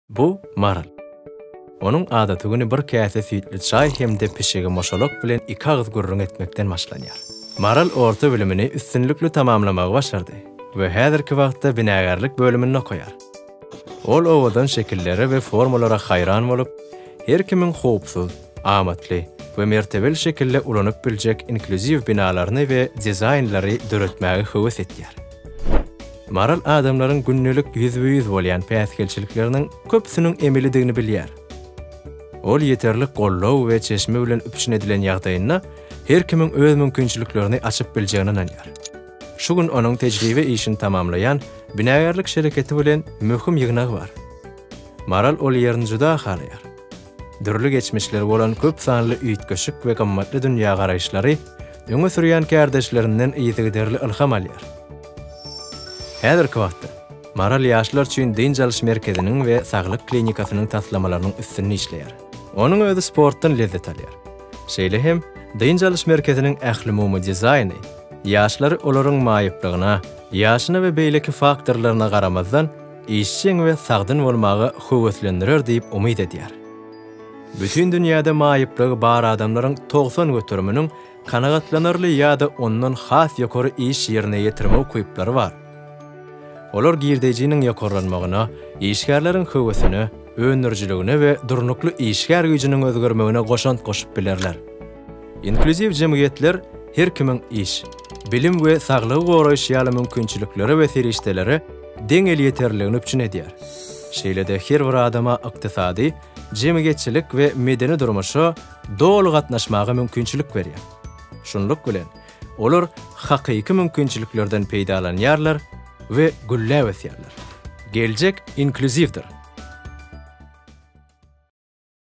Bu Maral. Onuň adaty güni bir käse süýtli çaý hem-de pişigi Moşolok bilen iki agyz gürrüň etmekden başlanýar. Maral orta bilimini üstünlikli tamamlamagy başardy we häzirki wagtda binagärlik bölüminde okaýar. Ol owadan şekillere we formalara haýran bolup, her kimiň howpsuz, amatly we mertebeli şekilde ulanyp biljek inklýuziw binalaryny we dizaýnlary döretmäge höwes edýär. Maral adamlaryň gündelik ýüzbe-ýüz bolýan päsgelçilikleriniň köpüsiniň emelidigini bilýär. Ol ýeterlik goldaw we çeşme bilen üpjün edilen ýagdaýynda her kimiň öz mümkinçiliklerini açyp biljegine ynanýar. Şu gün onuň tejribe işini tamamlaýan binagärlik şereketi bilen möhüm ýygnagy bar. Maral ol ýerini juda halaýar. Dürli geçmişleri bolan köp sanly üýtgeşik we gymmatly dünýägaraýyşlary öňe sürýän kärdeşlerinden yzygiderli ylham alýar. Häzirki wagtda Maral ýaşlar üçin dynç alyş merkeziniň we saglyk klinikasynyň taslamalarynyň üstünde işleýär. Onuň özi sportdan lezzet alýar. Şeýle hem dynç alyş merkeziniň ählumumy dizaýny ýaşlary olaryň maýyplygyna, ýaşyna we beýleki faktorlaryna garamazdan, işjeň we sagdyn bolmaga höweslendirer diýip umyt edýär. Bütin dünýäde maýyplygy bar adamlaryň togsan göteriminiň kanagatlanarly ýa-da ondan has ýokary iş ýerine ýetirme ukyplary bar. Olar girdejiniň ýokarlanmagyna, işgärleriň höwesine, öndürijiligine we durnukly işgär güýjüniň özgermegine goşant goşup bilerler. Inklýuziw jemgyýetler her kimiň iş, bilim we saglygy goraýyş ýaly mümkinçiliklere we serişdelere deň elýeterliligini üpjün edýär. Şeýle-de her bir adama ykdysady, jemgyýetçilik we medeni durmuşa doly gatnaşmaga mümkinçilik berýär. Şunluk bilen, olar hakyky mümkinçiliklerden peýdalanýarlar we gülläp ösýärler. Geljek inklýuziwdir!